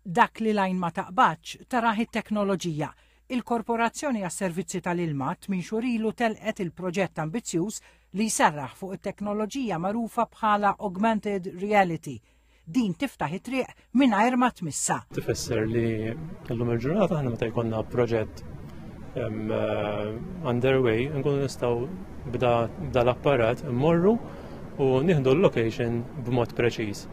Dak li l-għajn ma taqbadx, tarah it-teknoloġija. Il-Korporazzjoni għas-Servizzi tal-Ilma tmien xhur ilu telqet il-proġett ambizzjuż li jserraħ fuq it-teknoloġija magħrufa bħala Augmented Reality. Din tiftaħ it-triq mingħajr ma tmissha. Tifisser li llum il-ġurnata aħna meta jkollna proġett eh, underway nkunu nistgħu b'da l-apparat immorru u nieħdu l-location b'mod preċiż.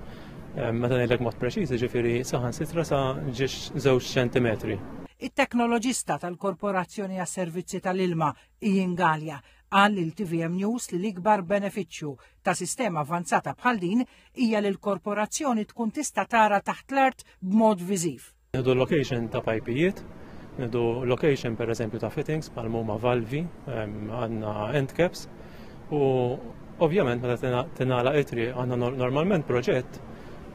Meta ngħidlek mod preċiż, ġifieri saħan sitra sa ġiex żewġ ċentimetri. It-teknoloġista tal-Korporazzjoni għas-Servizzi tal-Ilma, Ian Gallia, qal lil TVM News li l-ikbar benefiċċju ta' sistema avanzata bħal din hija li l-korporazzjoni tkun tista' tara taħt l-art b'mod viżiv. Nidu location ta' pajpijiet, nidu location per eżempju ta' fittings bħal huma valvi, għandna end caps u ovvjament meta tingħala itri għandna normalment proġett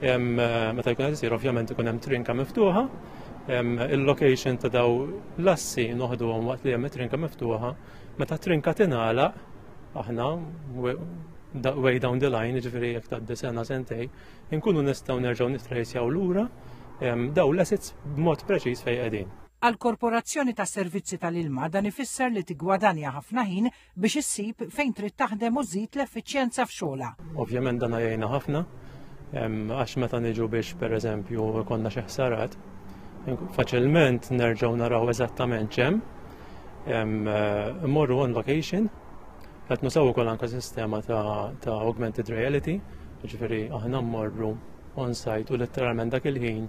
meta jkun qed isir ovvjament ikun hemm trinka miftuħa il-location ta' daw l-assi noħduhom waqt li hemm it-trinka miftuħa, meta trinka tingħalaq aħna way down the line, ġifieri jekk tgħaddi sena sentej, Inkunu nistgħu nerġgħu nitrejsjaw lura daw l-assets b'mod preċiż fejn qegħdin. Għal korporazzjoni ta' servizzi tal-ilma dan ifisser li tiggwadanja ħafna ħin biex issib fejn trid taħdem u żid l-effiċjenza f'xogħla. Ovvjament dan għajjajna ħafna għax meta niġu biex pereżempju konna xi ħsarat faċilment nerġgħu naraw eżattament ċem, eh, morru on vacation, Qed nusaw ukoll anke sistema ta' augmented reality, ġifieri aħna mmorru on-site u letteralment dak il-ħin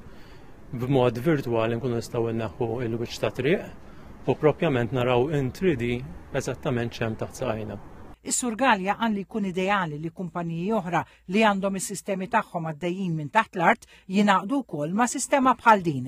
b'mod virtwali nkunu nistgħu nneħħu il-wiċċ ta' triq u propjament naraw in 3D eżattament ċem taħt sajna. Is-Sur Galja qal li jkun ideali li kumpaniji oħra li għandhom is-sistemi tagħhom għaddejjin minn taħt l-art jingħaqdu wkoll ma' sistema bħal din.